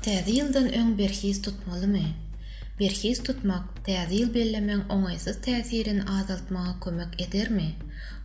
Täze ýyldan öň berhiz tutmalymy? Berhiz tutmak Täze ýyl bellemegiň oňaýsyz täsirini azaltmaga kömek edermi?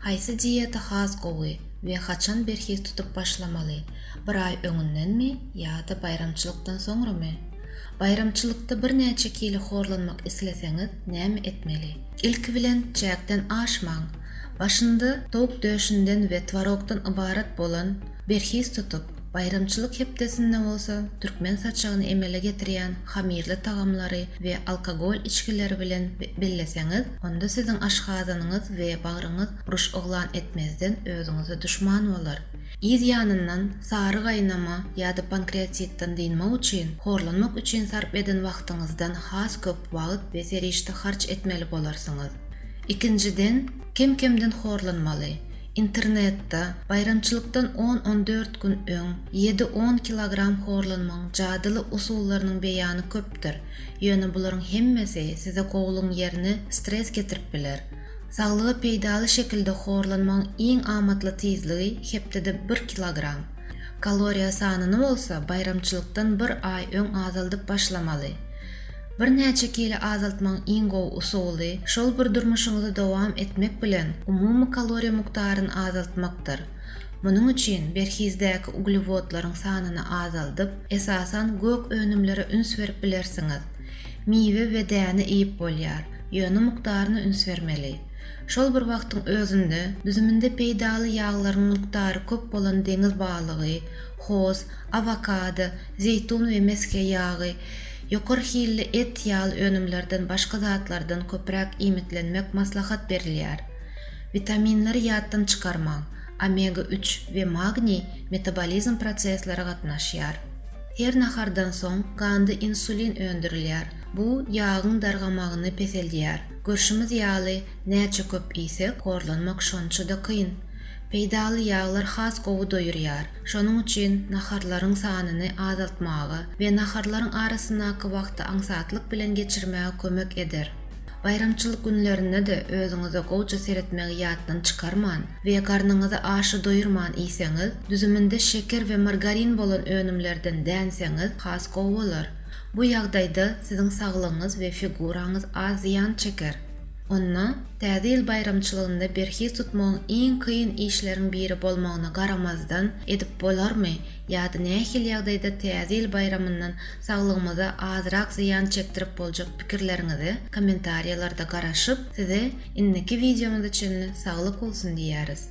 Haýsy dieta has gowy we haçan berhiz tutup başlamaly, bir aý öňündenmi ýa-da baýramçylykdan soňramy? Baýramçylykda birnäçe kilo horlanmak isleseňiz näme etmeli? Ilki bilen çäkden aşmaň! Başynda towuk döşünden we twarogdan ybarat bolan berhiz tutup, baýramçylyk hepdesinde bolsa türkmen saçagyny emele getirýän hamirli tagamlary we alkogol içgileri bilen belleseňiz, onda siziň aşgazanyňyz we bagryňyz uruş yglan etmezden özüňize duşman bolar. Yz ýanyndan sary gaýnama ýa-da pankreatitden dynmak üçin horlanmak üçin sarp eden wagtyňyzdan has köp wagt we serişde harç etmeli bolarsyňyz. Ikinjiden, kem-kemden horlanmaly. Internetde, baýramçylykdan on-on dört gün öň ýedi-on kilogram horlanmagyň jadyly usullarynyň beýany köpdür, ýöne bularyň hemmesi size gowulygyň ýerine stres getirip biler. Saglyga peýdaly şekilde horlanmagyň iň amatly tizligi hepdede bir kilogram. Kaloriýa sanyny bolsa baýramçylykdan bir aý öň azaldyp başlamaly. Birnäçe kilo azaltmagyň iň gowy usuly, şol bir durmuşyňyzy dowam etmek bilen, umumy kaloriýa mukdaryny azaltmakdyr. Munuň üçin berhizdäki uglewodlaryň sanyny azaldyp, esasan gök önümlere üns berip bilersiňiz. Miwe we däne iýip bolýar, ýöne mukdaryna üns bermeli. Şol bir wagtyň özünde, düzüminde peýdaly ýaglaryň mukdary köp bolan deňiz balygy, hoz, awokado, zeýtun we mesge ýagy, Ýokary hilli et, ýal önümlerden başga zatlardan köpräk iýmitlenmek maslahat berilýär. Witaminleri ýatdan çykarmaň, omega üç we magniý metabolizm prosesleri gatnaşýar. Her nahardan soň ganda insulin öndürilýär, bu ýagyň dargamagyny peseldýär. Görşümiz ýaly, näçe köp iýsek, horlanmak şonça-da kyn. Peýdaly ýaglar has gowy doýurýar. Şonuň üçin naharlaryň sanyny azaltmaga we naharlaryň arasyndaky wagty aňsatlyk bilen geçirmäge kömek eder. Baýramçylyk günlerinde-de özüňize gowja seretmegi ýatdan çykarman we garnyňyzy aşa doýurman iýseňiz, düzüminde şeker we margarin bolan önümlerden dänseňiz, has gowy bolar. Bu ýagdaýda siziň saglygyňyz we figuraňyz az zyýan çeker. Onda, Täze ýyl baýramçylygynda berhiz tutmagyň iň kyn işleriň biri bolmagyna garamazdan, edip bolarmy ýa-da nähili ýagdaýda Täze ýyl baýramyndan saglygymyza azrak zyýan çekdirip boljak pikirleriňizi kommentariýalarda garaşyp, size indiki wideomyza çenli saglyk bolsun diýýäris.